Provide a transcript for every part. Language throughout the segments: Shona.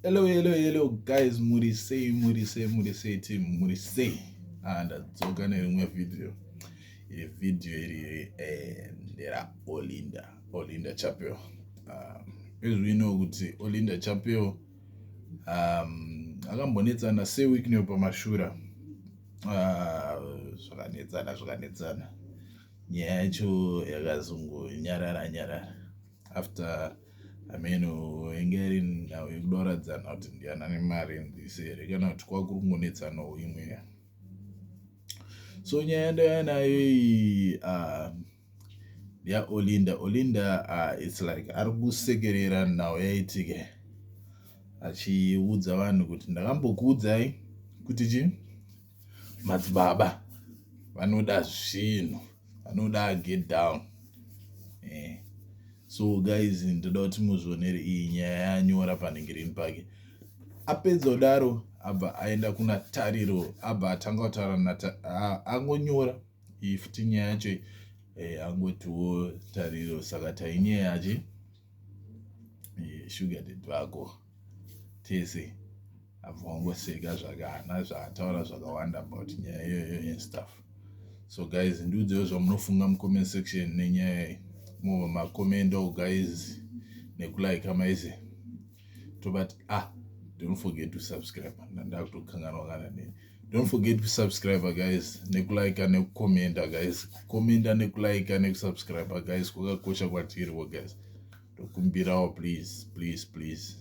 Hello, hello, hello guys, muri sei, muri sei, muri sei team, muri sei. Ah, ndadzoka nerimwe video. Iri video iri eh, ndera Olinda, Olinda Chapel. Ah, izvi vino kuti Olinda Chapel um, akambonetsana se week neyo pamashura. Ah, zvakanetsana, zvakanetsana. Nyaya yacho yakazongonyarara nyarara. after ameno enge ari nhau yekuda kuradzana kuti ndiana ane mari ndise here kana kuti kwakurungonetsanawo imwe so nyaya yandaya nayo iyi ah, yaolinda olinda ah, its like ari kusekerera nhau yaitike achiudza vanhu kuti ndakambokuudzai kuti chii Madzibaba vanoda zvinhu vanoda get down eh. So guys ndoda kuti muzvionere iyi nyaya yanyora panhengerini pake apedza kudaro abva aenda kuna tariro abva atanga kutaura naangonyora iyi futi nyaya yacho eh, angotiwo tariro saka tainyaya yachi eh, sugar ded vako tese abva wangoseka zvake haana zvaataura zvakawanda about nyaya iyoyo and stuff so guys ndiudzeo zvamunofunga mucomment section nenyaya iyi mova macommendo guys nekulike maize tobati ah don't forget to subscribe ndandakutokanganwa kana nini don't forget to subscribe guys nekulike nekucomenta guys commenta nekulike nekusubscribe guys kwakakosha kwatiriwo guys tokumbirawo please please please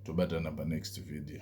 tobatana panext video